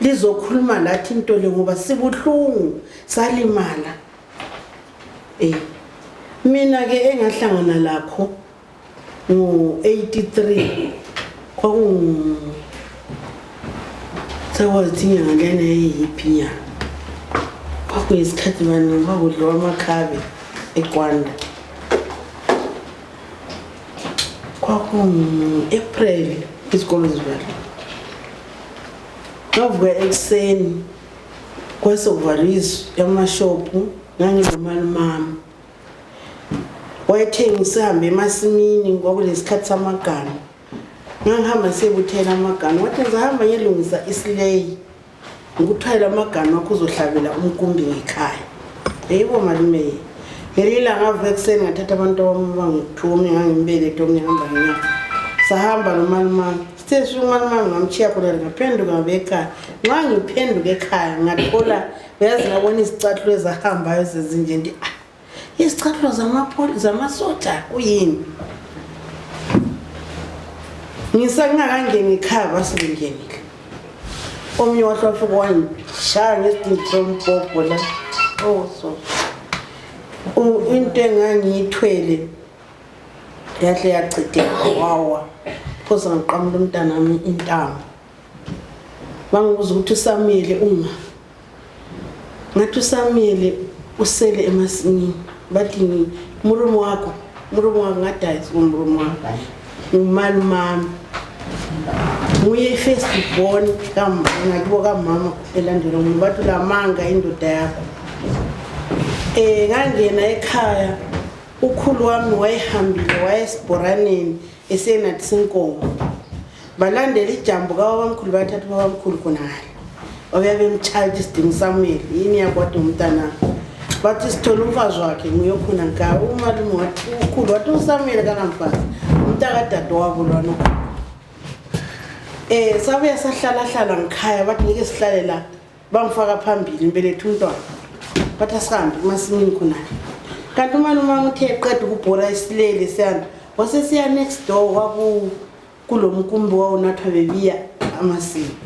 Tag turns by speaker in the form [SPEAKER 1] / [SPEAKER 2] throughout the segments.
[SPEAKER 1] lizokhuluma lathi into le ngoba sibuhlungu salimala eh mina ke engahlangana lakho ngo 83 kwakungu sekwathi inyanga lena eyiphi nyanga kwakuyisikhathi bani kwakudliwa amakhabe ekwanda kwakungu-april izikolo zivaliwe Ngavuka ekuseni kwasokuvalwa izwi yamashophu nganginomali mama wayethenga sihambe emasimini kwakulesikhathi samagama ngangihamba siyebuthela amagama wathi ngizahamba ngiyelungisa isileyi ngikuthwayela amagama wakho uzohlabela umkumbi ngekhaya eyibo malume ngelinye ilanga avuka ekuseni ngathatha abantu abambangu-two omnye ngangimbelethe omnye hamba ngenyanga sahamba nomalumami Sisi umani mami ngamtshiya khona ngaphenduka ngabeka nxa ngiphenduka ekhaya ngathola uyazi ngabona izicathulo ezahambayo zezinje ndi ah izicathulo zamasoja kuyini ngisangakangeni ekhaya basengenile omunye wahle wafika wangishaya ngesidindi sombhobho la oh so into engangiyithwele yahle yachitheka wawa phosa ngaqamula umntanami intamo bangibuza ukuthi usamile uma ngathi usamile usele emasimini bathi murumu wakho murumu wakho ngadayisa umurumu wakho ngumalumami nguye i-first born ngakibo kamama elandela omunye bathi ulamanga indoda yakho um ngangena ekhaya ukhulu wami wayehambile wayesibhoraneni esenathisa inkomo balandela ijambo kababamkhulu bathatha ubabamkhulu khonale obuya bemtshaya ukuthi sidinga usamuel yini yakwade umntana bathi sithole umfazi wakhe nguye okhona nka umalume wathi ukhulu wathi usamuel kanamfazi umntakadade wabo lwana um sabuya sahlalahlala ngikhaya bathi ngeke sihlale la bangifaka phambili ngibeletha umntwana bathi asihambe emasimini khonani kanti umane umama uthe eqeda ukubhora isilele siyana wasesiya next door kwaku kulo mkumbi wawunathwa bebiya amasimi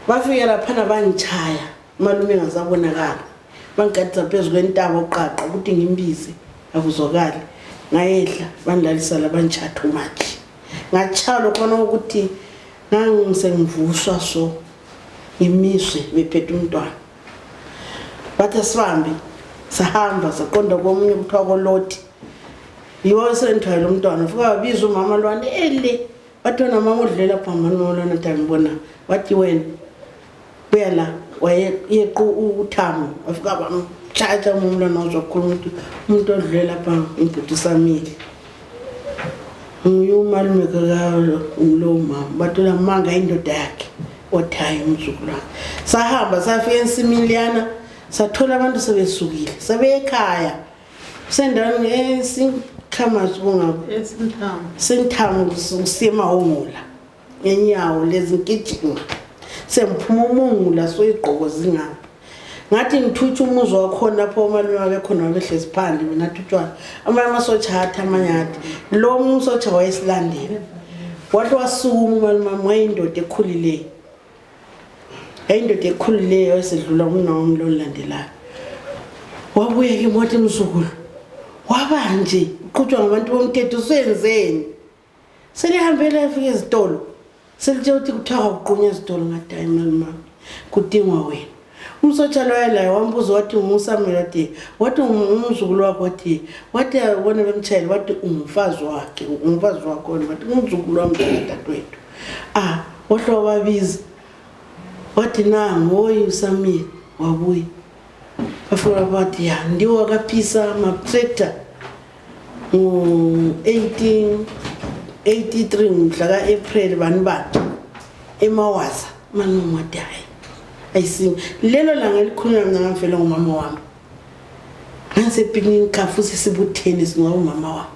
[SPEAKER 1] bafike laphana bangitshaya umalume engazabonakala bangigadisa phezu kwentaba uqaqa ukuthi ngimbize akuzwakali ngayedla bandlalisa labangitshatha umatshi ngatshaya lokhona ukuthi ngangisengivuswa so ngimiswe bephethe umntwana bathi asihambe sahamba saqonda komunye kuthiwa koloti yiwo esendithwayela umntwana fika wabiza umama lwana ele bathi wena mama udlulela phambani molwana tangibona wathi wena buyela wayequ uthamo wafika bamtshatsha umlwana wazokhula umuntu umuntu odlule lapha umbhuti usamile nguye umalume lowo mama bathola manga indoda yakhe othayo umzukulu wakhe sahamba safika ensimini liyana sathola abantu sebesukile sebeyekhaya sendaweni esikhamazi kungabo senthamu kusiye emahongola ngenyawo lezi ngigijima sengiphuma umungu laso igqoko zingapha ngathi ngithutsha umuzi wakhona lapho omalume wabekhona wabehlezi phandle mina thutshwana amanye amasotsha athi amanye athi lo umsotsha wayesilandela wathi wasukuma umalume wami wayindoda ekhulileyo yayindoda ekhulileyo esedlula umna wami lo lilandelayo wabuye ke moti mzukulu wabanje uqhutshwa ngabantu bomthetho usenzeni selihambele afika ezitolo selithe ukuthi kuthiwa kwakuqunywa ezitolo ngathi hayi malimami kudingwa wena umsotsha loya laye wambuza wathi ungusamela wathi wathi ungumzukulu wakho wathi wathi abone bemtshayeli wathi ungumfazi wakhe ungumfazi wakho wathi ungumzukulu wami dadadwethu ah wahle wababiza wathi nangu woyi usamile wabuya bafuna bathi ya ndiwo akaphisa maptrekta ngo-18 83 mhla ka-april bani bani emawaza manomade hayi ayisimi lelo langa elikhulunywa mna ngamfela ngumama wami ngangisepiknini kafu sesibutheni singoba umama wami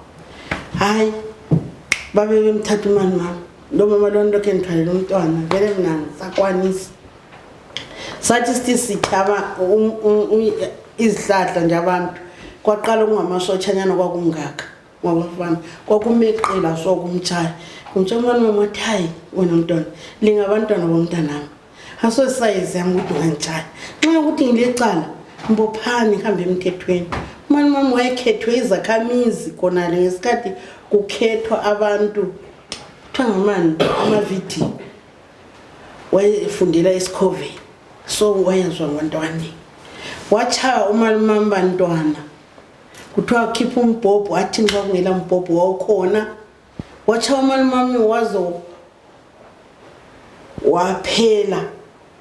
[SPEAKER 1] hayi babe bemthatha umani wami lo mama lona lokhu engithwalele umntwana vele mna ngisakwanisa sathi sithi sithaba um- um- um- izihlahla nje abantu kwaqala kungamasotshanyana kwakungaka ngabafana kwakumeqela so kumtshaya kumtsha umntwana wami wathi hayi wena mntwana lingabantwana bomntanami asosayizi yami ukuthi ungangitshaya nxa ukuthi ngilecala mbophani hambe emthethweni umani wami wayekhethwe izakhamizi khonale ngesikhathi kukhethwa abantu kuthiwa ngamani amavidiyo wayefundela esikhove so wayezwa ngontwani watshaya umalumamba ntwana kuthiwa khipha umbhobho athi nxa kungela mbhobho wawukhona watshaya umalumami wazo waphela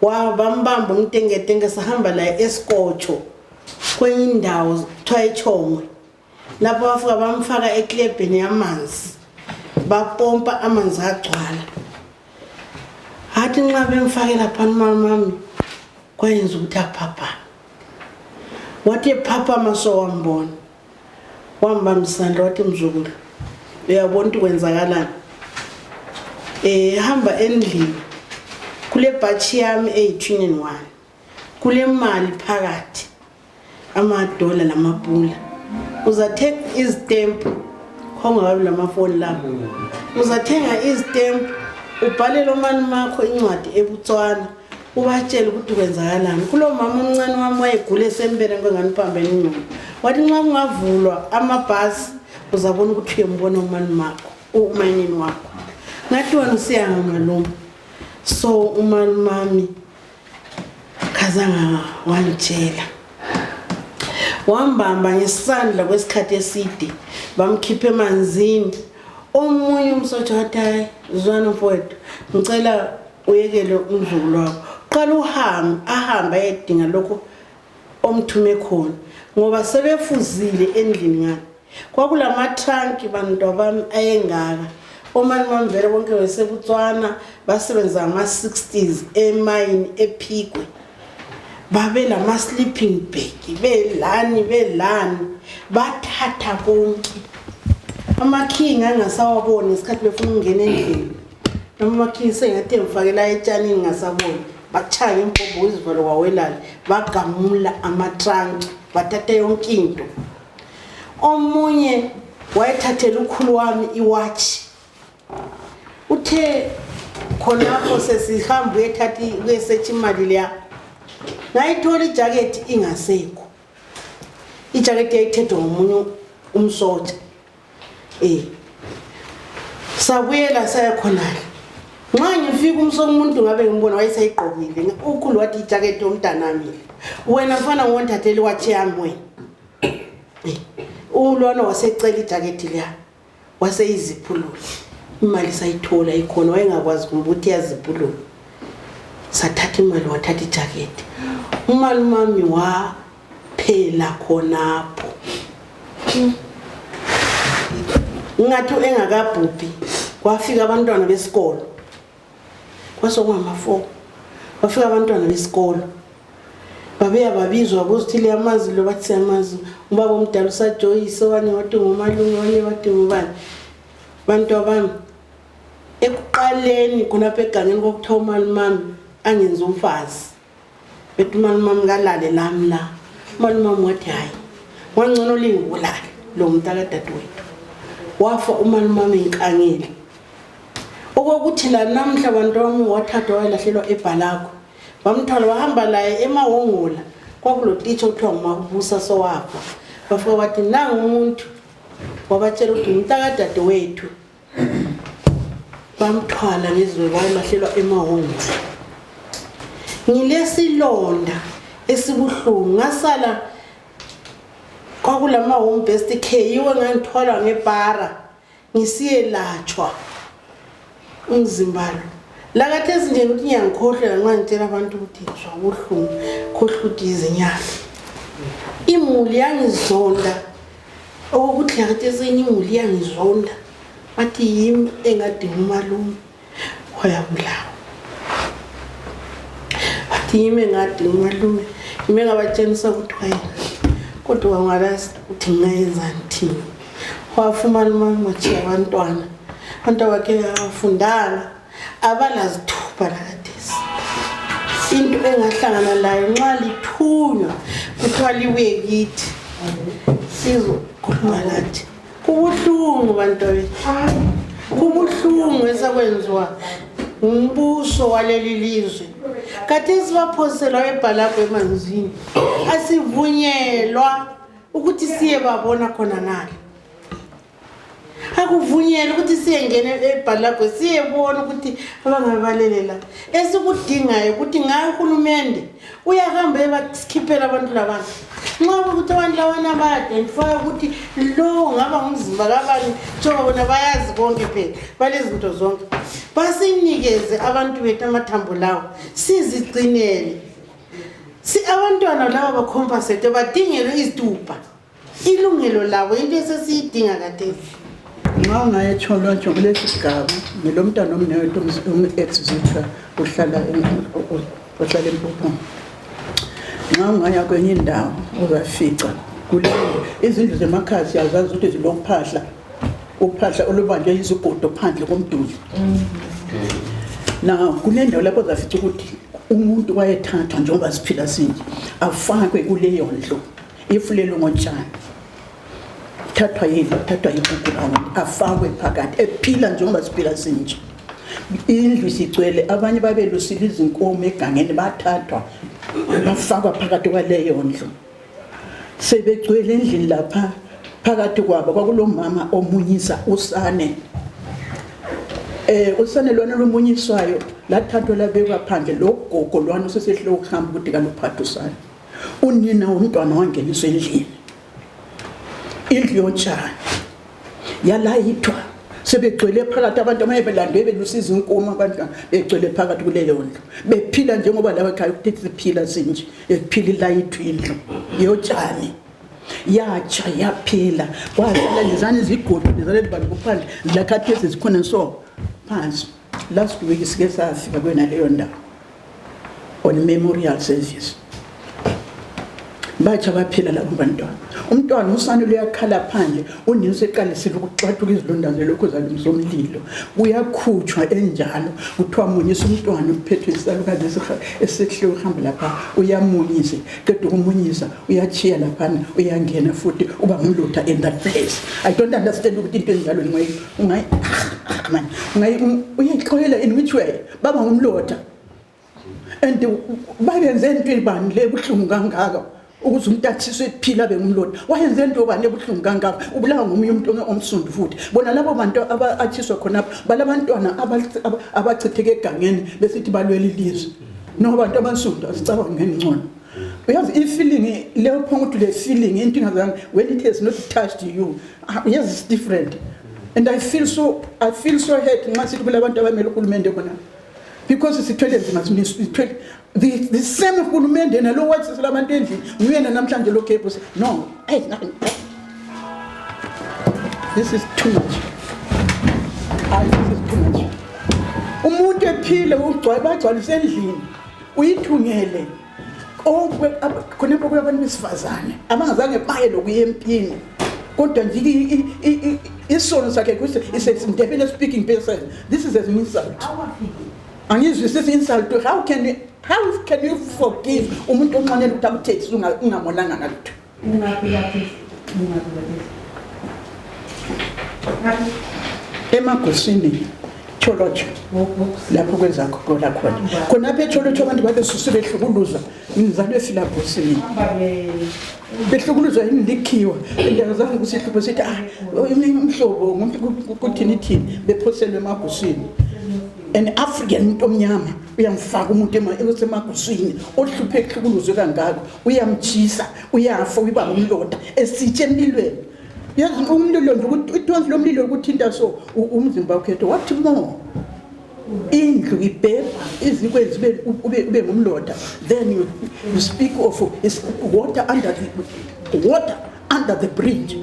[SPEAKER 1] wabambamba umtengetenge sahamba laye esikotsho kwenye indawo kuthiwa etshongwe lapho bafika bamfaka eklebheni yamanzi bapompa amanzi agcwala hathi nxa bemfakela phani mamami kwayenza ukuthi aphaphame wathi ephaphama sowambona wambambisandla wathi mzukulu uyabona ukuthi kwenzakalani um eh, hamba endlini kule bhatshi yami eyithuneni wani kule mali phakathi amadola lamapula uzathenga izitempu khongababi lamafoni labo uzathenga izitempu ubhalele omani makho incwadi ebutswana ubatshele ukuthi kwenzakalani kulo mama omncane wami wayegula esempeleni kwengani uphambene ingqondo wathi nxa kungavulwa amabhasi uzabona ukuthi uyembona umani makho umayinini wakho ngathi wena usiyanga maluma so umani mami Khazanga wangitshela wambamba ngesandla kwesikhathi eside bamkhipha emanzini omunye umsotsha wathi hayi zwana mfowethu ngicela uyekele umzukulu wakho qala uhambe ahambe ayedinga lokho omthume khona ngoba sebefuzile endlini ngani kwakulamathanki bantwa bami ayengaka omani bami vele bonke besebutswana basebenza ngama-60s emayini ephikwe babelama-sleeping bag belani belani bathatha konke amakhingi angasawaboni ngesikhathi befuna ukungena endlini noma amakhingi sengathi emfakela etshanini ngasaboni bachaya ngempombo izivalo wawelala bagamula amatranki bathatha yonke into Omunye wayethathela ukhulu wami iwatshi uthe khonapho sesihamba uyethatha kuyesetha imali leya ngayithola ijakethi ingasekho ijakethi yayithethwe ngomunye umsotsha Eh. Sabuyela saya khonale. Nxa ngifika umsoko umuntu ngabe ngimbona wayeseyigqokile. Nge- Ukhulu wathi ijaketi yomntanami. Wena mfana ngonthatheli wathi yami wena. Eh. Ulwana wasecela ijaketi liya. Waseyiziphulula. Imali sayithola ikhona wayengakwazi kumbe ukuthi yaziphulula. sathatha imali wathatha ijaketi umalumami wa phela khonapho ngathi engakabhubhi kwafika abantwana besikolo kwasokungama-four kwafika abantwana besikolo babeya babizwa bokuthi liyamazi lo bathi siyamazi ubaba omdala usajoyise obanye wathi ngomalume obanye wathi ngubani bantu abami ekuqaleni khonapha egangeni kwakuthiwa umalumami angenzi umfazi bethi umalumam kalale nami la umalumam wathi hhayi wangcono lingibulale lo mntakadadewethu wafa umalumam enkangile okokuthi la namhla bantu wami wathathwa wayelahlelwa ebhalakho bamthwala wahamba laye emawongola kwakulotitsha okuthiwa ngumakubusa sowafa bafika wathi nangumuntu wabatshela ukuthi ngumntakadadewethu bamthwala ngizwe wayelahlelwa emahungwini ngilesilonda esibuhlungu ngasala kwakulama home best care yiwe ngangithwalwa ngepara ngisiyelatshwa umzimba lo lakathi ezinje ukuthi ngiyangikhohlela nxa ngitshela abantu ukuthi ngizwa ubuhlungu khohluthi izinyama imuli yangizonda Okuhle ngathi esenye imuli iyangizonda bathi yimi engadinga umalume wayabulawa bathi yimi engadinga umalume yimi engabatshengisa ukuthi wayena kodwa wangalazi ukuthi ngingayenzani thina wafumana umalume atshiya abantwana abantu abakhe afundanga abalazithuba lakathesi into engahlangana layo nxa lithunywa kuthiwa libuye kithi sizokhuluma lathi kubuhlungu bantwabethu kubuhlungu esekwenziwa ngumbuso waleli lizwe kathesi baphoselwa ebhalabho emanzini asivunyelwa ukuthi siye babona khona ngale akuvunyelwe ukuthi siyengena ebhalagwe siyebona ukuthi abangabalelela esikudingayo ukuthi ngayo uhulumende uyahamba ebasikhiphela abantu labana nxa ukuthi abantu labana bayadentifaya ukuthi lowo ngaba ngumzimba kabani njengoba bona bayazi konke phela balezinto zonke basinikeze abantu bethu amathambo lawo sizigcinele si abantwana laba bakhompasete badingelwe izitubha ilungelo labo into esesiyidinga kadesi nxa
[SPEAKER 2] ungayetsholwatsho kulesi sigaba ngilomntana omnewethu um-exzitra uhlala empuphuma nxa ungaya kwenye indawo uzafica kule izindlu zemakhaya siyazazi ukuthi zilokuphahla uphahla olubanjwe yizigodo phandle komduli na kunendawo lapho zafica ukuthi umuntu wayethathwa njengoba siphila sinje afakwe kuleyo ndlu ifulelwe ngotshani thathwa yini thathwa yigugulane afakwe phakathi ephila njengoba siphila sinje indlu isigcwele abanye babelusile izinkomo egangeni bathathwa bafakwa phakathi kwaleyo ndlu sebegcwele endlini lapha phakathi kwabo kwakulomama omunyisa usane eh usane lona lomunyiswayo lathathwa labekwa phandle logogo lwana usesehlo ukuhamba ukuthi kaluphatha usane unina womntwana wangeniswa endlini indlu yotshani yalayithwa sebegcwele phakathi abantu amaye belandwe belusiza inkomo abantwana begcwele phakathi kuleyo ndlu bephila njengoba laba khaya ukuthi siphila sinje ekuphila ilayithwa indlu yotshani yatsha yaphila kwazala lezani zigodo lezani libantu kuphandle lakhathesi zikhona so phansi Last week sike safika kwena leyo ndawo on memorial service batsha baphila labo bantwana umntwana usane luyakhala phandle unina useqalisile ukuxathuka izilonda zelokhu zalungisa umlilo uyakhutshwa enjalo kuthiwa munyisa umntwana uphethwe isalukazi esihle uhamba lapha uyamunyise qeda ukumunyisa uyatshiya laphana uyangena futhi uba ngumlutha in that place i don't understand ukuthi into enjalo Ungayi man, ungayi uyixolela in which way? Baba ngumloda. And bayenze into ibani le buhlungu kangaka ukuze umuntu athiswe ephila bengumloda. Wayenze into bani ebuhlungu kangaka? Ubulawa ngomunye umuntu omsundu futhi. Bona labo bantu abathiswa khona balabantwana abachitheke egangeni besithi balwela ilizwe. No bantu abansundu asicabangeni ngcono. uyazi ifeeling leyo phanga ukuthi le feeling inkinga zami when it has not touched you ah, yes it's different and i feel so i feel so hurt nxa sithi kulabantu abamele uhulumende khona because sithwele nzima sithwele the, the same hulumende yena lo wathi selabantu endlini nguyena namhlanje lo gebus no hey, nothing. this is too much Ay, this is too much umuntu ephile ugcwale bagcwalise endlini uyithungele khonapho kuyabantu besifazane abangazange baye lokuya empini kodwa nje isono sakhe kuthi is a Ndebele speaking person this is an insult angizwisisi insult how can you, how can you forgive umuntu onxanela ukuthi akuthethise ungamonanga ngalutho emagusini tsholotsho lapho kwezakho kola khona khonapho etsholotsho abantu babesusu behlukuluza mnzalo esilabhosini behlukuluza yini likhiwa indawo zange kusihlupho sithi ah umhlobo kuthini thini bephoselwe emagusini an african into omnyama uyamfaka umuntu osemaguswini ohluphe ehlukuluzwe kangako uyamtshisa uyafa uyiba ngumlonda esitshe empilweni yazi umlilo nje ithonsi lomlilo ukuthinta so umzimba ukhetho wathi mo indlu ibhebha izikwenzi ube ngumlonda then you, you speak of water under the, water under the bridge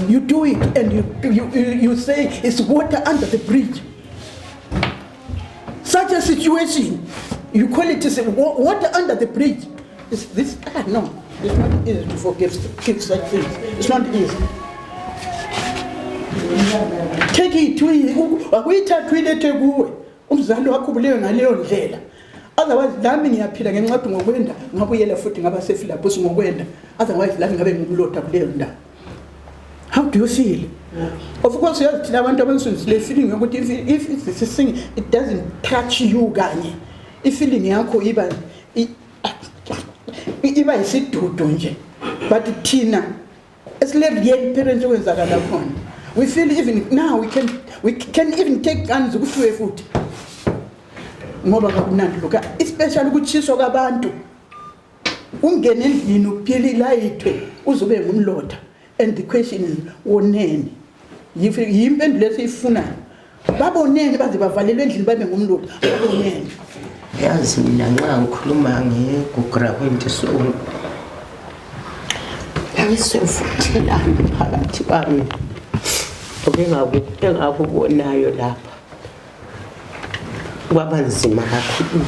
[SPEAKER 2] you do it and you, you, you say it's water under the bridge Such a situation, you call it is wa- water under the bridge. It's this, ah, no, it's not easy to forgive keep such things. It's not easy. Take it, we- u- akuyithathi uyilethe kuwe, umzali wakho ubulewe ngaleyo ndlela. Otherwise, lami ngiyaphila ngenxa yokuthi ngokwenda, ngabuyela futhi ngaba seFilabus ngokwenda. Otherwise, lami ngabe ngimlotha kuleyo ndawo. how do you feel of course uyazi thina abantu abansundu sile feeling yokuthi if- if if this is thing it doesn't touch you kanye ifeeling yakho iba i- i- iba yisidudu nje but thina esile-real parents okwenzakala khona we feel even now we can, we can even take guns kufiwe futhi ngoba kakunandi lokhu especially ukutshiswa kwabantu ungene endlini uphile ilayithwe uzube ngumlotha and the question is woneni yimpendulo esiyifunayo baboneni baze bavalelwe endlini babe ngumlotha baboneni yazi
[SPEAKER 3] mina nxa ngikhuluma ngegugura kwento sonke ayisevuthelani phakathi kwami engakubonayo lapha kwaba nzima kakhulu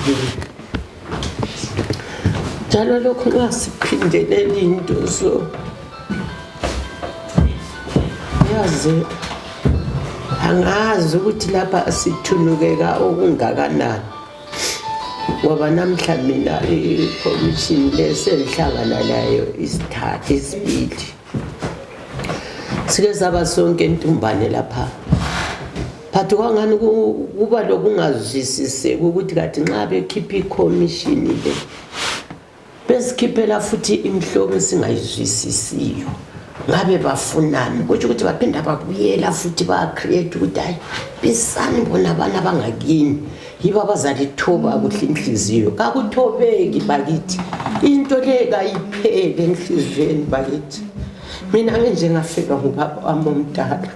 [SPEAKER 3] njalo lokhu nxa siphindele linto so yaze angazi ukuthi lapha sithunukeka okungakanani ngoba namhla mina ikhomishini lesenhlangana layo isithatha isibili sike saba sonke intumbane lapha phathi kwangani kuba lokungazwisiseki ukuthi kathi nxa bekhipha ikhomishini le besikhiphela futhi imihlobo esingayizwisisiyo ngabe bafunani kutsho ukuthi baphinda babuyela futhi bacreate ukuthi hayi bisani bona abana bangakini yibo abazalithoba kuhle inhliziyo kakuthobeki bakithi into le kayiphele enhliziyweni bakithi mina nginjengafelwa ngubaba wami omdala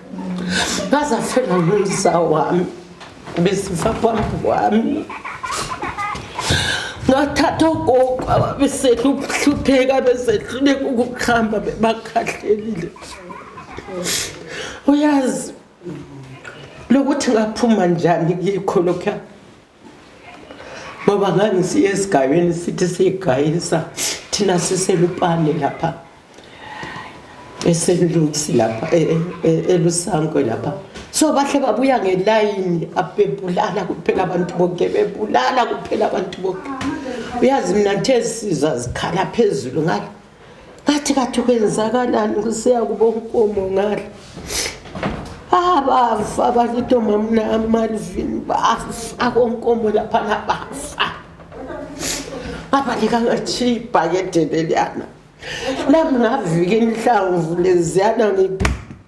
[SPEAKER 3] ngazafelwa ngumza wami besifa phambi kwami ngathatha ogogo ababesehla ukuhlupheka besehluleka ukuhamba bebakhahlelile uyazi lokuthi ngaphuma njani kikho lokhuya ngoba ngangisiya esigabeni sithi siyigayisa thina siselupane lapha eselusi lapha e, e, e, elusankwe lapha so bahle babuya ngelayini abebulala kuphela abantu bonke bebulala kuphela abantu bonke uyazi mina nthe sizwa zikhala phezulu ngalo kathi kathi kwenzakalani kusiya kubo ukomo ngale abafa bakithi omamna amalvini bafa konkomo laphana bafa abalikangajhiyi ibhakede leliyana lami ngavika inhlamvu leziyana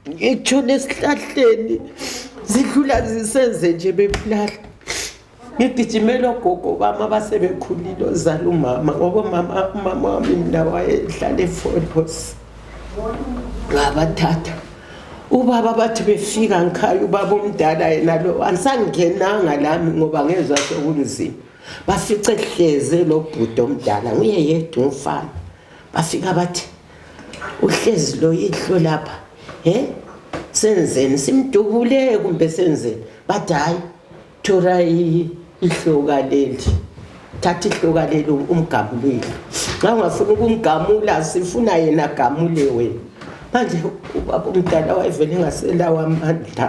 [SPEAKER 3] ngitshona esihlahleni zidlula zisenze nje bebulala ngigijimela ogogo bami abasebekhulile ozala umama ngoba umama umama wami mina wayehlala efolos ngabathatha ubaba bathi befika ngikhaya ubaba omdala yena lo angisangingenanga lami ngoba ngezwa sokunzima bafice hleze lo bhuti omdala nguye yedwa umfana bafika bathi uhlezi lo yihlo lapha he senzeni simdubule kumbe senzeni bathi hhayi thola i- ihloka leli thatha ihloka leli umgamulile nxa ungafuna ukumgamula sifuna yena gamule wena manje ubaba umdala wayevele engaselawo amandla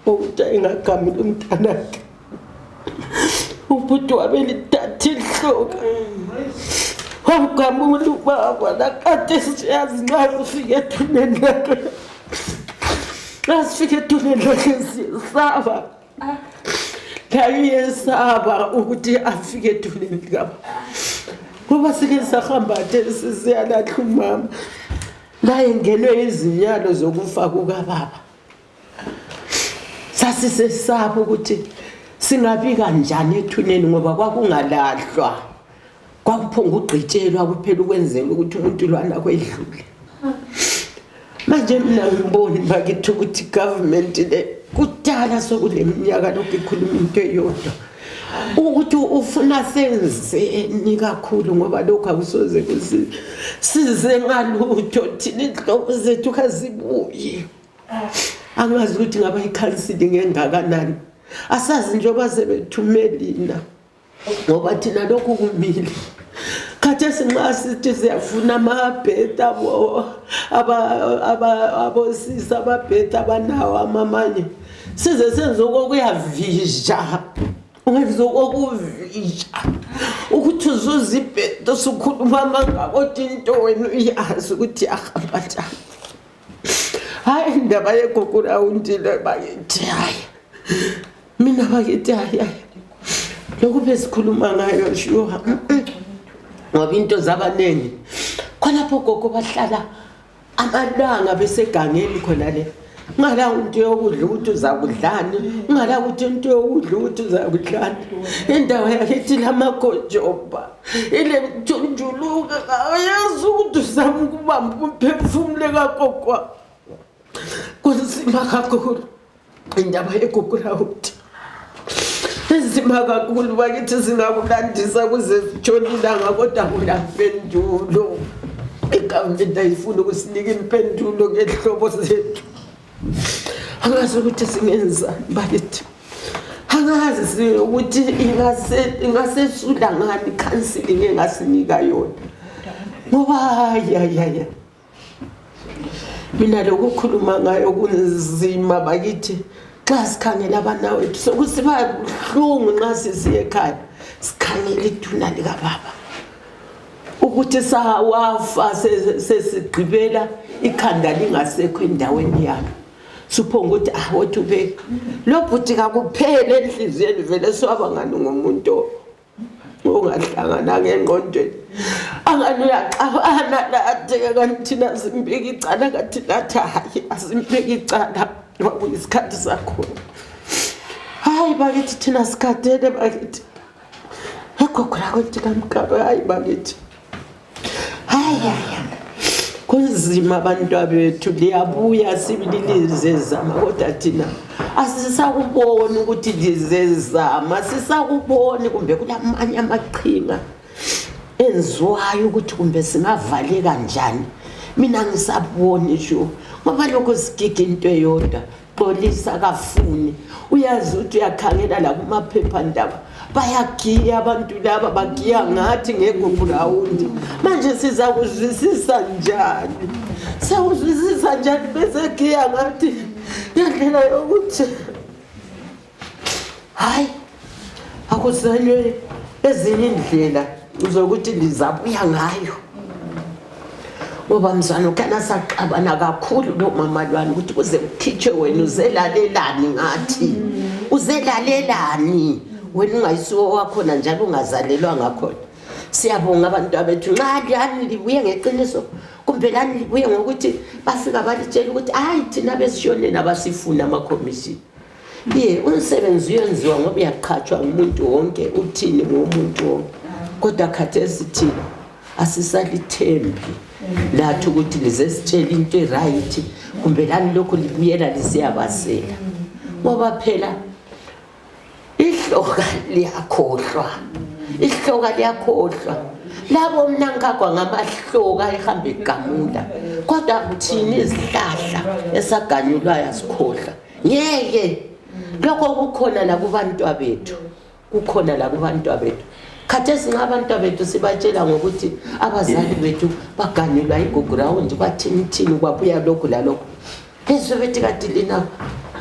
[SPEAKER 3] okuthi engagamula umntanakhe ubhuti wabelithatha ihloka wamgamula ubaba nakade siyazi nxa kufike ethuneni lakhe nxa sifike ethuneni lakhe siyesaba Ngiyesaba ukuthi afike edulini likabo ngoba sike sahamba thesi siyalahla umama laye ngenwe izinyalo zokufa kukababa sasisesaba ukuthi singabika njani ethuneni ngoba kwakungalahlwa kwakuphonga ugqitshelwa kuphela ukwenzela ukuthi umuntu lwana kwedlule manje mina ngiboni bakithi ukuthi government le kudala sokule minyaka lokhu ikhuluma into eyodwa ukuthi ufuna senzeni kakhulu ngoba lokhu akusoze kusize ngalutho thina inhlobo zethu kazibuyi angazi ukuthi ngaba ikhansili ngengakanani asazi njengoba sebethumelina ngoba thina lokhu kumile khathesi nxa sithi siyafuna amabheda abosisi amabheda abanawo amamanye size senze okokuyavinja ungenza okokuvinja ukuthi uzuza ibheda usukhuluma amangako kodwa into wena uyazi ukuthi yahamba njani hayi indaba yegugula undile bakithi hayi mina bakithi hayi hayi lokhu besikhuluma ngayo shuha ngoba into zabaningi khonapho gogo bahlala amalanga besegangeni khona le ngala into yokudla ukuthi uzakudlani ngala ukuthi into yokudla ukuthi uzakudlani indawo yakithi lamagojoba ile kujunjuluka akayazi ukuthi uzama ukubamba umphefumulo kagogo kunzima kakhulu indaba yegogo lawuthi inzima kakhulu bakithi zingakulandisa kuze zitshona ilanga kodwa kulampendulo igovernment ayifuni ukusinika impendulo ngehlobo zethu angazi ukuthi singenza bakithi angazi ukuthi ingasesula ngani counseling engasinika yona ngoba yayaya mina lokukhuluma ngayo kunzima bakithi xa sikhangela abana wethu sokusiba buhlungu nxa sisiye ekhaya sikhangela iduna likababa ukuthi sawafa sesigqibela ikhanda lingasekho endaweni yalo suphonga ukuthi ah wothi ube lo bhuti kakuphele enhliziyweni vele swaba ngani ngomuntu ongahlangana ngengqondweni angani uyaxabana latheke kanti thina simbeki icala kanti lathi hhayi asimbeki icala kwakuyisikhathi sakhona hayi bakithi thina sikhathele bakithi kokora kwekutika mukaro hayi bakithi hayaya kunzima abantwa bethu liyabuya sibili lizezama kodwa thina asisakuboni ukuthi lizezama sisakuboni kumbe kulamanye amaqhinga enziwayo ukuthi kumbe singavaleka njani mina ngisaboni sho ngoba lokho sigida into eyodwa polisi akafuni uyazi ukuthi uyakhangela lakumaphephandaba bayagiya abantu laba bagiya ngathi ngegugurawundi manje sizakuzwisisa njani sawuzwisisa njani besegiya ngathi ngendlela yokuthi hayi akuzelwe ezinye indlela zokuthi ndizabuya ngayo ngoba mzwana ukhana saxabana kakhulu lo mama lwani ukuthi kuze kukhitshwe wena uzelalelani ngathi uzelalelani wena ungayisiwo wakhona njalo ungazalelwa ngakhona siyabonga abantu abethu nxa lani libuye ngeqiniso kumbe lani libuye ngokuthi bafika balitshela ukuthi hayi thina besishoneni abasifuni amakhomishini ye umsebenzi uyenziwa ngoba uyaqhatshwa ngumuntu wonke uthini ngomuntu wonke kodwa khathesi thina asisalithembi lathi ukuthi lize sitshele into erayithi kumbe lani lokhu libuyela lisiyabazela ngoba phela ihloka liyakhohlwa ihloka liyakhohlwa labo mnankagwa ngamahloka ehamba egamula kodwa kuthini izihlahla esaganyulwayo asikhohlwa ngeke lokho kukhona lakubantwa bethu kukhona lakubantwa bethu khathesi nxa abantwa bethu sibatshela ngokuthi abazali bethu baganilwa igugurawundi bathinithini kwabuya lokhu lalokhu bezwe bethi kati lina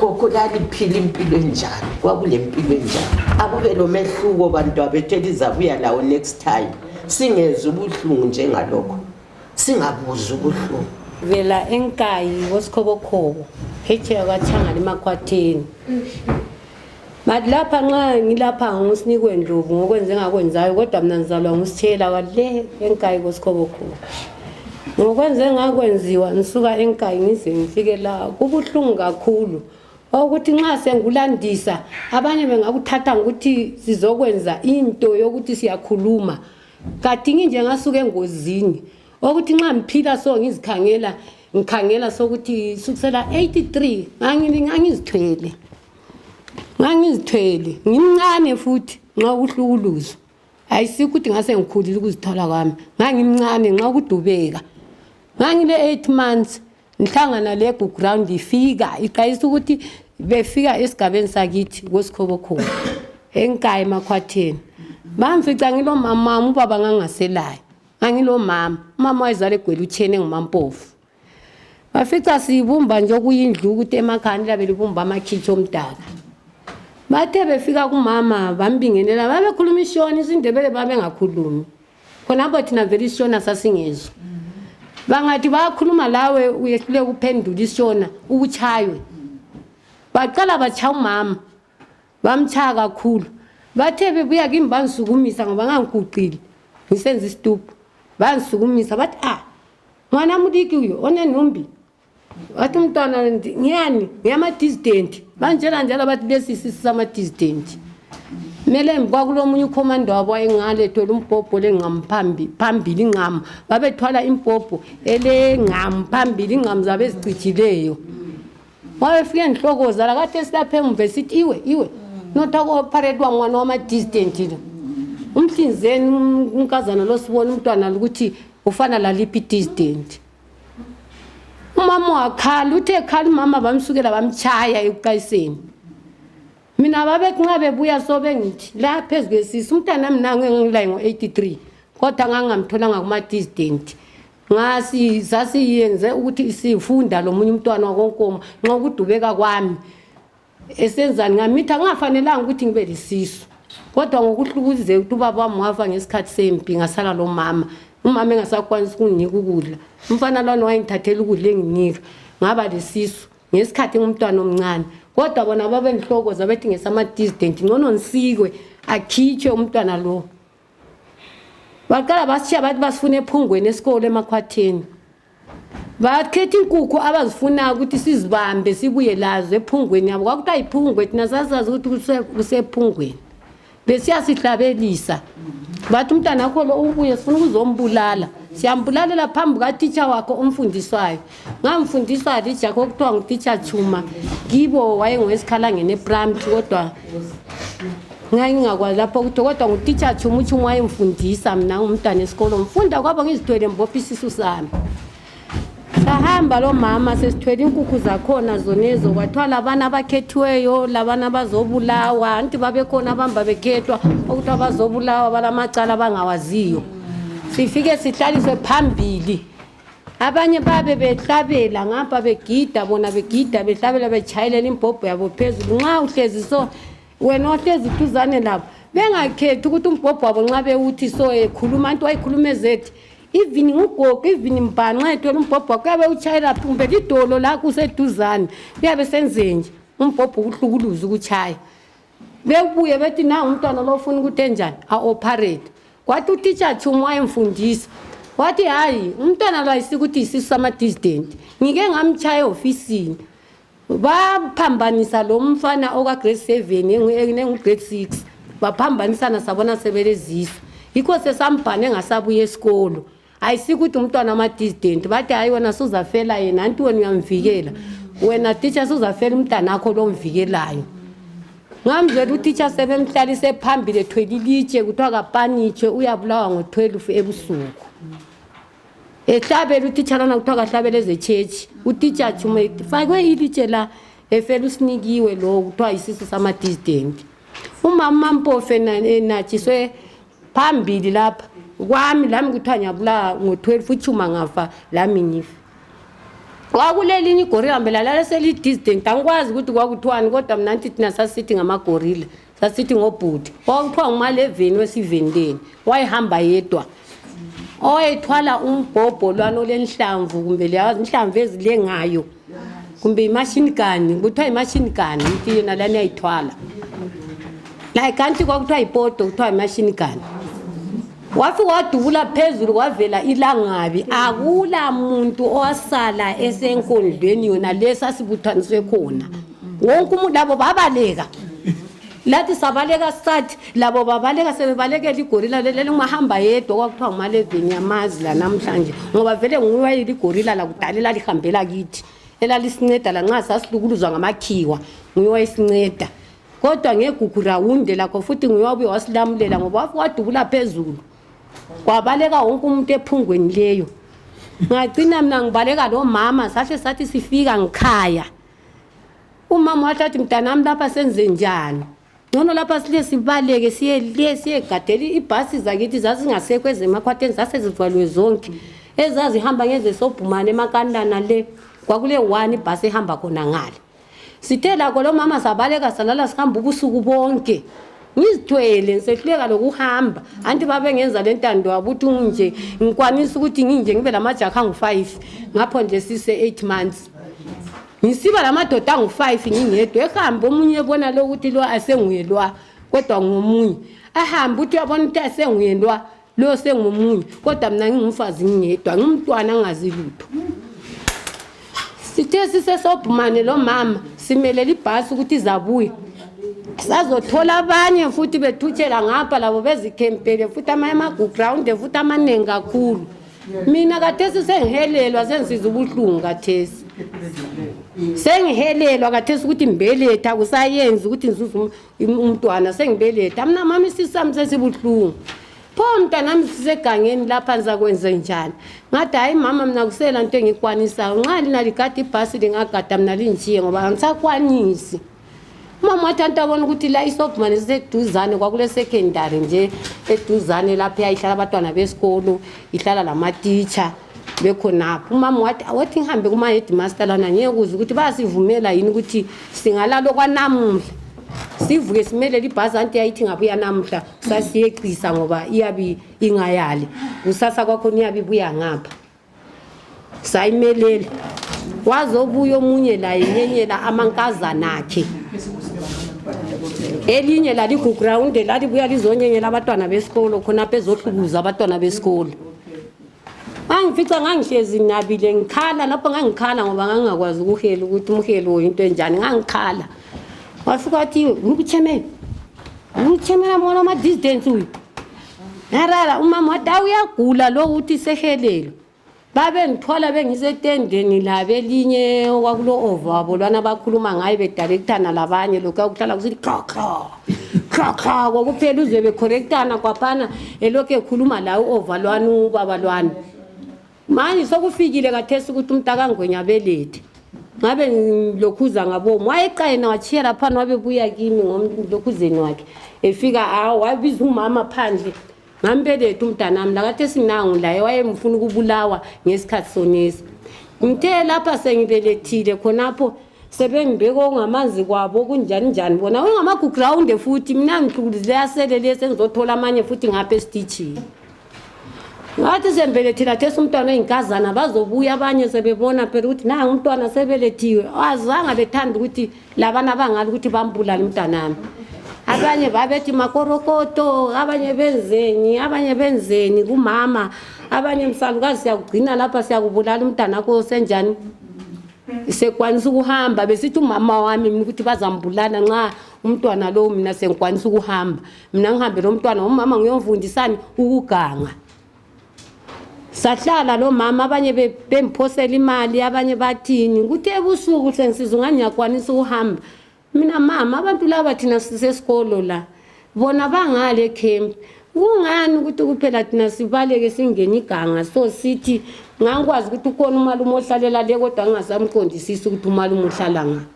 [SPEAKER 3] kokulaliphila impilo enjani kwakulempilo enjani akube lomehluko bantwa bethu elizabuya lawo next time singezwa ubuhlungu njengalokho singabuzi ubuhlungu vela
[SPEAKER 4] enkayi wosikhobokhobo phetsheya kwatshangani emakhwatheni but lapha nxa ngilapha ngusinikwe ndlovu ngokwenze engakwenzayo kodwa mna ngizalwa ngusitshela kwale enkayi kosikhobokhobo ngokwenze engakwenziwa ngisuka enkayi ngize ngifike la kubuhlungu kakhulu okuthi nxa sengulandisa abanye bengakuthatha ngokuthi sizokwenza into yokuthi siyakhuluma kadingi nje ngasuke engozini okuthi nxa ngiphila so ngizikhangela ngikhangela sokuthi sukusela 83 ngangizithwele ngangizithwele ngimncane futhi nxa ukuhlukuluza ayisikho ukuthi ngase ngikhulile ukuzithola kwami ngangimncane nxa ukudubeka ngangile 8 months ngihlangana le ground ifika iqayisa ukuthi befika esigabeni sakithi kwesikhobokhulu enkayi emakhwatheni bamfica ngilomamama ubaba ngangaselayo angilomama umama wayezala egwela utshene ngumampofu bafica siyibumba nje okuyindlu ukuthi emakhani labe libumba amakhitshi omdaka bathe befika kumama bambingelela babekhuluma ishoni isindebele babengakhulumi khonapho thina vele isishona sasingezwa bangathi bayakhuluma lawe uyehlule ukuphendula isishona ukuchaywe baqala bachaya umama bamchaya kakhulu bathe bebuya kimi bangisukumisa ngoba ngangiguqile ngisenza isituphu bangisukumisa bathi a mwana mudiki uyo onenumbi wathi umntwana ngiyani ngiyama-disdent banjena njalo bathi lesi sisi sama-disdent kumele kwakulomunye ukhomanda wabo wayengalethola umbhobho lengqamu phambili ingqamu babethwala imbhobho elengqamu phambili ingqamu zabo ezicijileyo wabefike ndihlokoza lakathi esilapha emuva esithi iwe iwe notha koparate wangwana wama-distant lo umhlinzeni unkazana losibona umntwana lukuthi ufana laliphi i-distant umama wakhala uthe ekhala umama bamsukela bamtshaya ekuqayiseni mina babethi nxa bebuya sobengithi la phezu kwesisi umntana mi nangu engilaye ngo-83 kodwa ngangingamtholanga kuma-disdent ngasi sasiyenze ukuthi sifunda lo munye umntwana wakonkoma nxa ukudubeka kwami esenzani ngamitha ngingafanelanga ukuthi ngibe lisisu kodwa ngokuhlukuzeka ukuthi ubaba wami wafa ngesikhathi sempi ngasala lo mama umama engasakwanisi ukunginika ukudla umfana lwana wayengithathela ukudla enginika ngaba lesisu ngesikhathi ngumntwana omncane kodwa bona babendihlokoza bethi ngesamadisdent ngcono ngisikwe akhitshwe umntwana lowo baqala basitshiya bathi basifuna ephungweni esikolo emakhwatheni bakhetha inkukhu abazifunayo ukuthi sizibambe sibuye lazo ephungweni yabo kwakuthiwa yiphungwe thina sasazi ukuthi kuse- kusephungweni besiyasihlabelisa bathi umntana wakho lo ubuye sifuna ukuzombulala siyambulalela phambi katitsha wakho omfundiswayo ngamfundisa lija kokuthiwa ngutitsha chuma kibo wayengowesikhalangeni eprimary kodwa ngangingakwazi lapho ukuthi kodwa ngutitsha chuma uchuma wayemfundisa mna ngumntwana esikolo ngifunda kwabo ngizithwele mbopha isisu sami sahamba lo mama sesithwele inkukhu zakhona zonezo kwathiwa labana abakhethiweyo labana bazobulawa anti babekhona abamba bekhethwa okuthiwa bazobulawa balamacala abangawaziyo sifike sihlaliswe phambili abanye babe behlabela ngapha begida bona begida behlabela betshayelela imbhobho yabo phezulu nxa uhlezi so wena ohlezi duzane labo bengakhethi ukuthi umbhobho wabo nxa bewuthi so ekhuluma anti wayikhuluma ezethi even ngugogo even mbhanxa ethola umbhobho wakho kuyabe utshayela kumbe lidolo lakho useduzane kuyabe senzenje umbhobho ukuhlukuluza ukutshaya bekubuye bethi na umntwana lo ufuna ukuthi enjani a-operate wathi utitsha chumu wayemfundisa wathi hhayi umntwana lo ayisikuthi yisisu samadisdenti ngike ngamtshaya ehofisini baphambanisa lo mfana okagrade seven nengugrade six baphambanisana sabona sebelezisa yikho sesambhane ngasabuya esikolo ayisiko ukuthi umntwana ama-distant bathi hhayi wena suzafela yena anti wena uyamvikela wena teacher suzafela umntana akho lomvikelayo ngamzela utitsha sebemhlalise phambili ethwele ilitshe kuthiwa kapanitshe uyabulawa ngo-12 ebusuku ehlabela utitsha lana kuthiwa kahlabela ezechechi utitsha chume fakwe ilitshe la efela usinikiwe lowo kuthiwa yisisu sama-distant umama mampofe enatshiswe phambili lapha kwami lami kuthiwa ngiyabulawa ngo-12 uchuma ngafa lami ngife kwakulelinye igorila mbe lalala selidistant angikwazi ukuthi kwakuthiwani kodwa mna nti thina sasithi ngamagorila sasithi ngobhuti kwakuthiwa ngumaleveni wesivendeni wayehamba yedwa owayethwala umbhobho lwanolenhlamvu kumbe leyazi inhlamvu ezilengayo kumbe imashini gani kuthiwa imashini gani ithi yona lani yayithwala layi kanti kwakuthiwa yipoto kuthiwa imashini gani wafi wadubula phezulu kwavela ilangabi akula muntu owasala esenkondlweni yona le sasibuthaniswe khona wonke umuntu labo babaleka lathi sabaleka sathi labo babaleka sebebalekela igorila leli ungahamba yedwa kwakuthiwa ngumalevini yamazi lanamhlanje ngoba vele nguwayile igorila lakudala elalihambela kithi elalisinceda lanxa sasilukuluzwa ngamakhiwa nguye wayisinceda kodwa ngegugu rawunde lakho futhi nguye wabuye wasilamulela ngoba wafike wadubula phezulu kwabaleka wonke umuntu ephungweni leyo ngagcina mina ngibaleka lomama sahle sathi sifika ngikhaya umama wathi athi mntanami lapha senze njani ngcono lapha sile sibaleke siye le siyegadela ibhasi zakithi zazingasekho ezemakhwatheni zasezivalwe zonke ezazihamba ngezesobhumane emakantana le kwakule one ibhasi ehamba khona ngale sithe lakho lo mama sabaleka salala sihamba ubusuku bonke ngizithwele ngisehluleka lokuhamba anti babengenza le ntando wabo ukuthi nginje ngikwanisa ukuthi nginje ngibe lamajakha angu-five ngapho nje sise-eight months ngisiba lamadoda angu-five ngingedwa ehambe omunye ebona lo ukuthi lo asenguye lwa kodwa ngomunye ahambe ukuthi uyabona ukuthi asenguye lwa lo sengomunye kodwa mina ngingumfazi ngingedwa ngimntwana angazi lutho sithe sisesobhumane lo mama simelele ibhasi ukuthi izabuya sazothola abanye futhi bethutshela ngapha labo bezikhempele futhi amanye amaguground futhi amaningi kakhulu mina kathesi sengihelelwa sengisiza ubuhlungu kathesi sengihelelwa kathesi ukuthi ngibeletha kusayenzi ukuthi ngizuze um- im- umntwana sengibeletha mna mama isisu sami sesibuhlungu pho mntanami sisegangeni lapha ndizakwenze njani ngathi hayi mama mna kusela nto engiyikwanisayo nxa lina ligada ibhasi lingagada mna linjiye ngoba angisakwanisi umama wathi anti abona ukuthi la isobhumane siseduzane kwakulesekhendari nje eduzane lapho yayihlala abantwana besikolo ihlala lamatitsha bekhonapho umama wathi awothi ngihambe kuma-headmaster lana ngiyekuza ukuthi bayasivumela yini ukuthi singalalo kwanamuhla sivuke simelele ibhasi anti yayithi ngabuya namuhla sasiyeqisa ngoba iyabe ingayali kusasa kwakhona iyabe ibuya ngapha sayimelele wazobuya omunye laye nyenyela amankazana akhe elinye laligugrawunde lalibuya lizonyenyela abantwana besikolo khonapho ezohlukuza abantwana besikolo ngangifica ngangihlezi nginabile ngikhala lapho ngangikhala ngoba ngangingakwazi ukuhela ukuthi umhelo yinto enjani ngangikhala wafika wathi ngubuthemeni ngubuthemeni amona ama-distance uyu ngarara umama wathi awu uyagula lowo uthi sehelelo babengithola bengisetendeni labo elinye okwakulo ova wabo lwana abakhuluma ngayo bedalekithana labanye lokhu akuhlala kusithi khlokhlo khlokhlo kokuphela uzwe bekhorektana kwaphana elokhu ekhuluma laye u-ova lwani ubaba lwani manje sokufikile kathesi ukuthi umntakangwenya abelethe ngabe ngilokhuza ngabomu wayeqayena watshiya laphana wabebuya kimi ngomlokhuzeni wakhe efika awo wabiza umama phandle ngambeletha umntanami lakathi esinangu laye wayemfuna ukubulawa ngesikhathi sonesi ngithe lapha sengibelethile khonapho sebengibeka okungamanzi kwabo kunjani njani bona wengamagugurawunde futhi mina ngiqhukulizile yasele lesi engizothola amanye futhi ngapha esititshini ngathi sembelethile athesa umntwana oyinkazana bazobuya abanye sebebona phela ukuthi nangu umntwana sebelethiwe azange bethanda ukuthi labana abangala ukuthi bambulale umntanami abanye babethi makorokoto abanye benzeni abanye benzeni kumama abanye msalukazi siyakugcina lapha siyakubulala umntana kho senjani sekwanisa ukuhamba besithi umama wami mina ukuthi bazambulala nxa umntwana lowo mina sengikwanisa ukuhamba mina ngihambe lo mntwana umama ngiyomfundisani ukuganga sahlala lo mama abanye be- bengiphosela imali abanye bathini kuthi ebusuku sengisiza ungani ngiyakwanisa ukuhamba mina mama abantu laba thina sisesikolo la bona bangale camp kungani ukuthi kuphela thina sibaleke singene iganga so sithi ngangikwazi ukuthi ukhona umalume ohlalela le kodwa ngingasamqondisisi ukuthi umalume uhlala ngaphi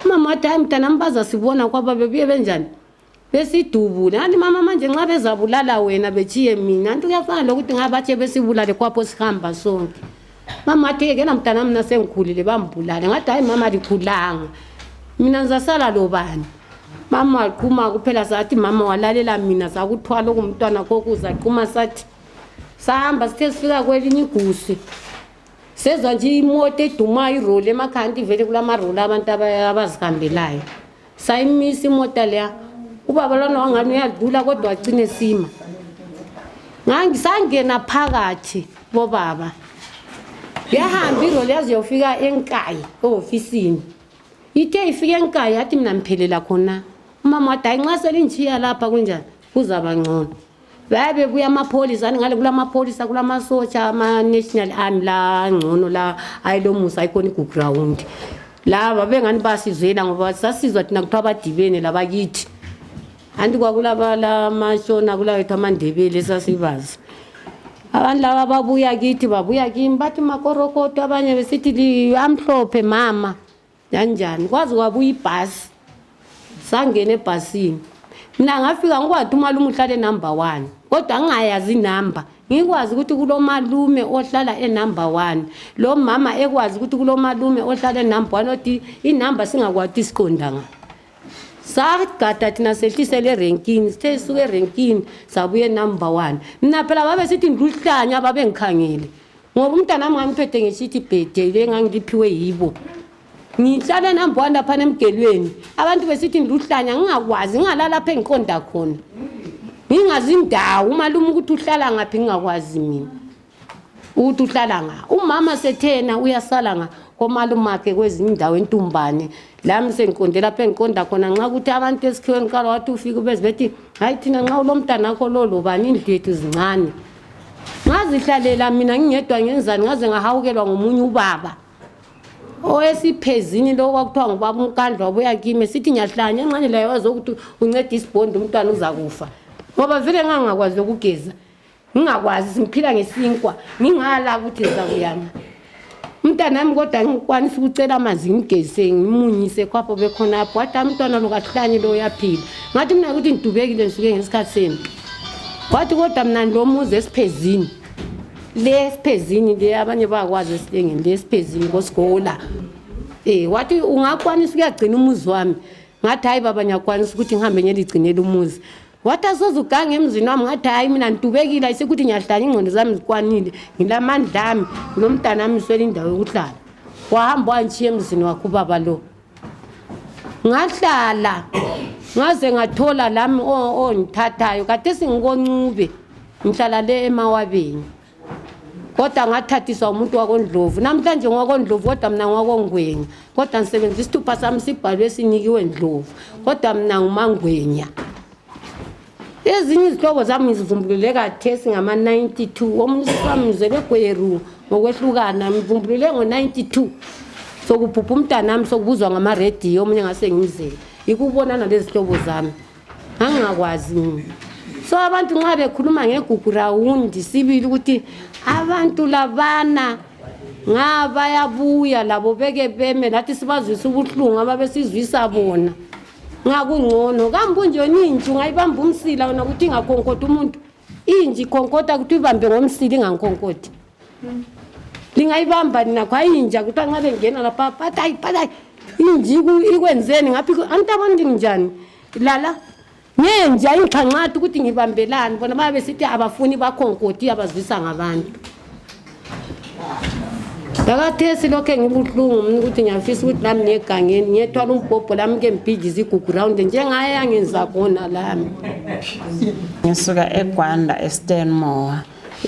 [SPEAKER 4] umama wathi hayi mntanami bazasibona kwaba bebuye benjani besidubule anti mama manje nxa bezabulala wena betshiye mina anti kuyafana lokuthi nxa batshe besibulale kwapho sihamba sonke mama athi yekela mntana mina sengikhulile bambulale ngathi hayi mama likhulanga mina ngizasala lobani mama waqhuma kuphela sathi mama walalela mina sakuthwala okumntwana kokuza qhuma sathi sahamba sithe sifika kwelinye igusi sezwa nje imoto edumayo iroli emakhaya nti vele kulamaroli abantu abazihambelayo sayimisa imota leya ubaba lona wangani uyadlula kodwa wacine sima ngisangena phakathi bobaba yahamba iroli yaze yofika enkayi ehofisini ithe ifike enkayi yathi mina ngiphelela khona umama wathi hayi nxa selinjiya lapha kunjani kuzaba ngcono baye bebuya amapholisa ani ngale kulamapholisa kulamasotsha ama-national army la ngcono la ayilomusa ayikhona iguground laba bengani basizwela ngoba sasizwa thina kuthiwa abadibene labakithi anti kwakulabalamashona kulawethu amandebele esasibazi abantu laba babuya kithi babuya kimi bathi makorokoto abanye besithi amhlophe mama yanjani kwaze wabuya ibhasi sangena ebhasini mina ngafika ngikwazi umalume uhlala enumber one kodwa ngingayazi inumber ngikwazi ukuthi kulomalume ohlala enumber one lo mama ekwazi ukuthi kulomalume ohlala enumber one othi inumber singakwati isiqonda nga sagada thina sehlisele erenkini sithe suke erenkini sabuye number one mina phela babe sithi ngiluhlanya babengikhangile ngoba umntana wami ngangiphethe ngesithi bhede le ngangiliphiwe yibo ngihlale nambowa laphana emgelweni abantu besithi ngiluhlanya ngingakwazi ngingalalapha engiqonda khona ngingazi indawo umalume ukuthi uhlala ngaphi ngingakwazi mina ukuthi uhlala nga umama sethena uyasala nga komalumakhe kwezinye indawo entumbane lami sengiqonde lapho engiqonda khona nxa ukuthi abantu esikhiweni qala wathi ufike ubezi bethi hayi thina nxa ulomntanakho lolobani indlu yethu zincane ngazihlalela mina ngingedwa ngenzani ngaze ngahawukelwa ngomunye ubaba owesiphezini lo kwakuthiwa ngubaba umkandla wabuya kimi sithi ngiyahlanya ngenxanye layo wazi ukuthi unceda isibhondi umntwana uzakufa ngoba vele ngangingakwazi lokugeza ngingakwazi ngiphila ngesinkwa ngingala ukuthi zakuyama umntanami kodwa ngikwanisa ukucela amanzi ngigeze ngimunyise khwapho bekhonapho wathi amntwana lo kahlanye lo uyaphila ngathi mina ukuthi ngidubekile ngisuke ngesikhathi senu wathi kodwa mna lo muzi esiphezini le esiphezini le abanye bakwazi esilengeni le esiphezini kosigola um wathi ungakwanisa ukuyagcina umuzi wami ngathi hhayi baba ngiyakwanisa ukuthi ngihambe ngiyeligcinela umuzi wathi asoze ugange emzini wami ngathi hhayi mina ngitubekile ayisekuthi ngiyahlala ingqondo zami zikwanile ngilamandla ami ngulo mntana ami swela indawo yokuhlala wahamba wangishiya emzini wakhe ubaba lo ngahlala ngaze ngathola lami ongithathayo kade singikoncube ngihlala le emawabeni kodwa ngathathiswa umuntu wakondlovu namhlanje ngwakondlovu kodwa mna ngwakongwenya kodwa ngisebenzisa isithupha sami sibhalwe sinikiwe ndlovu kodwa mna ngumangwenya ezinye izihlobo zami ngizivumbulule kathesi ngama-92 omunye usisami ngizebegweru ngokwehlukana ngivumbulule ngo-92 sokuphupha umntanami sokubuzwa ngamarediyo omunye ngase ngimzele yikubonana lezihlobo zami angakwazi mina so abantu nxa bekhuluma ngegugu rawundi sibili ukuthi abantu labana nga bayabuya labo beke beme lathi sibazwisa ubuhlungu ababesizwisa bona ngakungcono kambe unje ninje ungayibamba umsila wena ukuthi ingakhonkoda umuntu inji ikhonkotha kuthi uyibambe ngomsili ingankonkothi lingayibamba nina khwayinja kuthiwa nxa bengena lapha patayi patayi inji iku- ikwenzeni ngaphi ku- angithi abantu ndinjani lala ngenja ingixhanxathi ukuthi ngibambelani bona babe besithi abafuni bakhonkothi abazwisa ngabantu ndakathesi lokho engibuhlungu mna ukuthi ngiyafisa ukuthi lami ngiyegangeni ngiyethwala umbhobho lami ke mbhidlize igugurawundi njengaye angenza khona lami
[SPEAKER 5] ngisuka egwanda estanmore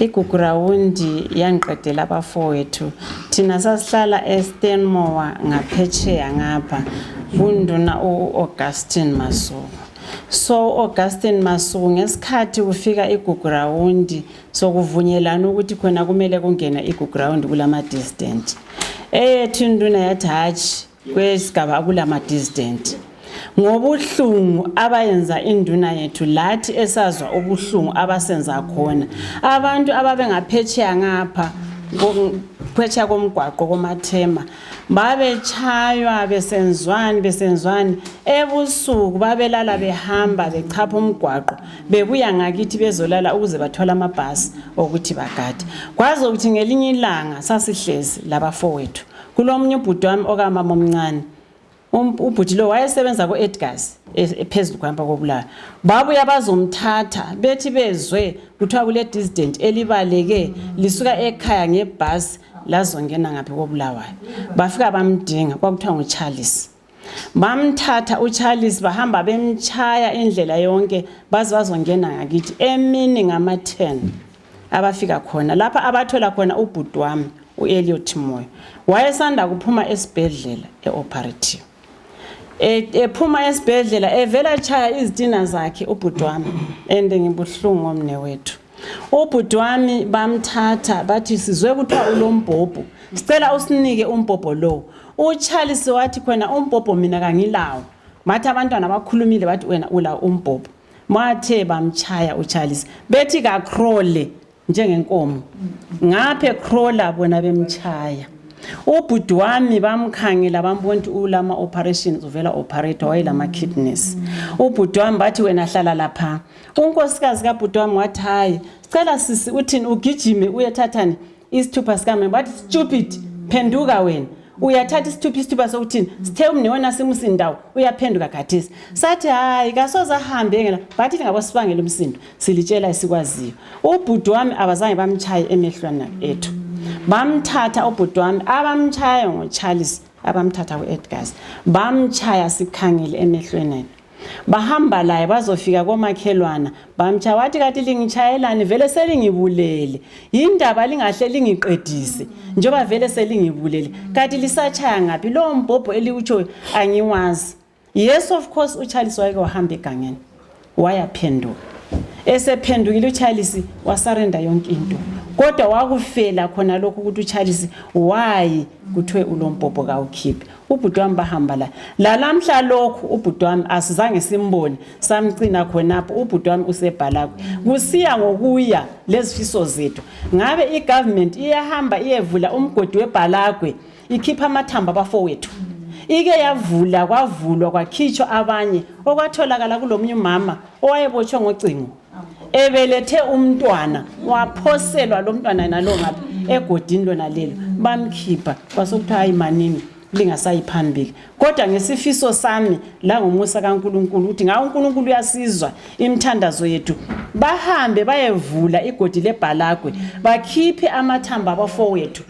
[SPEAKER 5] igugurawundi yangiqedela abafowethu thina sasihlala estanmore ngaphetsheya ngapha kunduna u-augustin masuku so augustin masuku ngesikhathi kufika igugurawundi so kuvunyelana ukuthi khona kumele kungene iguground kulama distant eyethu induna yathi hatshi kwesigaba akulama distant ngobuhlungu abayenza induna yethu lathi esazwa ubuhlungu abasenza khona abantu ababengaphetsheya ngapha phetsheya komgwaqo komathema babetshaywa besenzwani besenzwani ebusuku babelala behamba bechapha umgwaqo bebuya ngakithi bezolala ukuze bathole amabhasi okuthi bagade kwaze ukuthi ngelinye ilanga sasihlezi labafowethu kulomunye ubhuti wami okamama omncane Um, ubhuti lo wayesebenza ku-edgars e, e, phezulu kuhamba kobulayo babuya bazomthatha bethi bezwe kuthiwa kule-dissident elibaleke lisuka ekhaya ngebhasi lazongena ngaphi kobulawayo bafika bamdinga kwakuthiwa ngucharles bamthatha ucharles bahamba bemtshaya indlela yonke baze bazongena ngakithi emini ngama-ten abafika khona lapha abathola khona ubhuti wami u-eliot moyo wayesanda kuphuma esibhedlela e-operative e, ephuma esibhedlela evela chaya izitina zakhe ubhuti wami and ngibuhlungu ngomne wethu ubhuti wami bamthatha bathi sizwe kuthiwa ulombhobho sicela usinike umbhobho lowo ucharles wathi khona umbhobho mina kangilawo bathi abantwana bakhulumile bathi wena ulawo umbhobho Mathe bamtshaya uCharles bethi kakrole njengenkomo ngaphe krola bona bemtshaya ubhuti wami bamkhangela bambona ukuthi ulama operations uvela operator wayelama kidneys ubhuti wami bathi wena hlala lapha unkosikazi kabhuti wami wathi hayi sicela sisi uthini ugijime uyethathani isithupha sikame bathi stupid phenduka wena uyathatha isithupha isithupha sokuthini sithe umnewena simusindawo uyaphenduka khathesi sathi hayi kasoze ahambe ngela bathi lingabo sibangela umsindo silitshela esikwaziyo ubhuti wami abazange bamtshaye emehlwana ethu bamthatha ubhuti wami abamtshaye ngocharles abamthatha ku-edgars bamtshaya sikhangile emehlweni bahamba laye bazofika komakhelwana bamtsha wathi kathi lingitshayelani vele selingibulele yindaba lingahle lingiqedise njengoba vele selingibulele kathi lisatshaya ngaphi lowo mbhobho eliwutshoyo angiwazi yes of course uchalisi wayeke wahamba egangeni wayaphenduka esephendukile uchalisi wasarenda yonke into kodwa wakufela khona lokhu ukuthi uchalisi wayi kuthiwe ulombhobho kawukhiphe ubhuti wami bahamba la lalamhla lokhu ubhuti wami asizange simbone samcina khonapho ubhuti wami usebhalakwe kusiya ngokuya lezifiso zethu ngabe igovernment iyahamba iyevula umgodi webhalakwe ikhipha amathamba abafowethu ike yavula kwavulwa kwakhitshwa abanye okwatholakala kulomunye umama owayebotshwe ngocingo ebelethe umntwana waphoselwa lo mntwana nalo ngapha egodini lona lelo bamkhipha kwasokuthiwa hayi manini lingasayi phambili kodwa ngesifiso sami langomusa kaNkuluNkulu ukuthi ngawo uNkuluNkulu uyasizwa imthandazo yethu bahambe bayevula igodi lebhalagwe bakhiphe amathamba abafowethu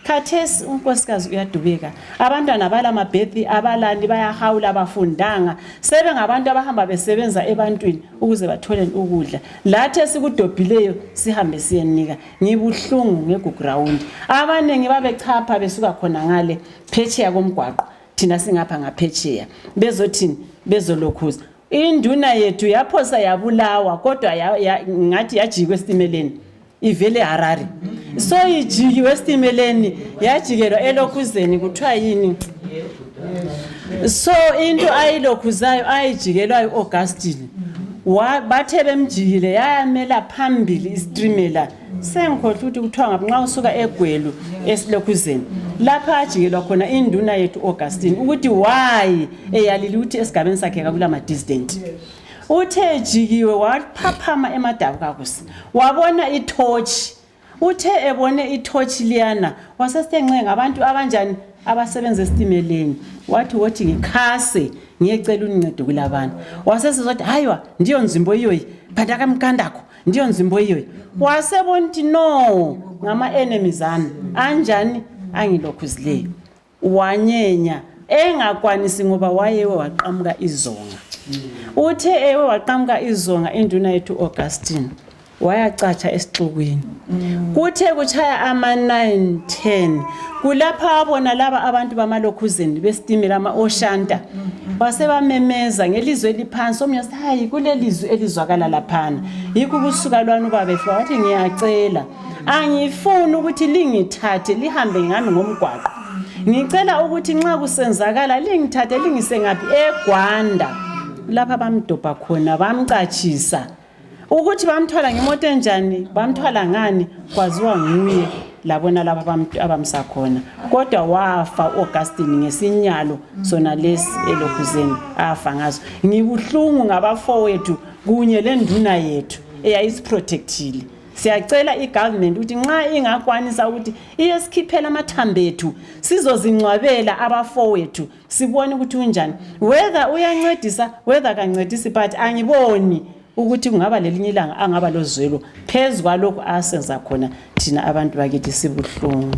[SPEAKER 5] khathesi unkosikazi uyadubeka abantwana abala mabhethi abalani bayahawula abafundanga sebengabantu abahamba besebenza ebantwini ukuze bathole ukudla lathi esikudobhileyo sihambe siyenika ngibuhlungu ngegugrawundi abaningi babechapha besuka khona ngale phetsheya komgwaqo thina singapha ngaphetsheya bezothini bezolokhuza induna yethu yaphosa yabulawa kodwa ngathi yajikwa esitimeleni ivele harare so ijikiwe esitimeleni yajikelwa elokhuzeni kuthiwa yini so into ayilokhuzayo ayijikelwayo u-augustine Wa- bathe bemjikile yayamela phambili isitimela sengikhohlwa ukuthi kuthiwa ngapi nxa usuka egwelu esilokhuzeni lapha ajikelwa khona induna yethu u-augustine ukuthi wayi eyalile ukuthi esigabeni sakhe kakula madisdent uthe ejikiwe waphaphama emadabukakusa wabona ithotshi uthe ebone ithotshi liyana wasesenxe ngabantu abanjani abasebenza esitimeleni wathi wothi ngikhase ngiyecela uncedo kulabana wasesizwa ukuthi hayiwa ndiyo nzimbo iyoyi phanda kamkandakho ndiyo nzimbo iyoyi wasebona ukuthi no ngama-enemies ami anjani angilokhuzileyo wanyenya engakwanisi ngoba wayewe waqamuka izonga uthe ewe waqamuka izonga induna yethu augustine wayacatsha esixukwini kuthe kutshaya ama-9 10 kulapha wabona laba abantu bamalokhuzeni besitimela ama-oshanta basebamemeza ngelizwi eliphansi omnye wathi hayi kulelizwi elizwakala laphana yikho ukusuka lwani ubabefika wathi ngiyacela angifuni ukuthi lingithathe lihambe ngami ngomgwaqo ngicela ukuthi nxa kusenzakala lingithathe lingise ngaphi egwanda lapha bamdobha khona bamcatshisa ukuthi bamthwala ngemoto enjani bamthwala ngani kwaziwa nguye labona laba abamsa khona kodwa wafa u-augustine ngesinyalo sona lesi elokhuzeni afa ngaso ngibuhlungu ngabafowethu kunye lenduna yethu eyayisiprotectile siyacela igovernment ukuthi nxa ingakwanisa ukuthi iyesikhiphela amathambo ethu sizozingcwabela abafowethu sibone ukuthi unjani whether uyancedisa whether kancedisi but angiboni ukuthi kungaba lelinye ilanga angaba lozwelo phezu kwalokhu asenza khona thina abantu bakithi sibuhlungu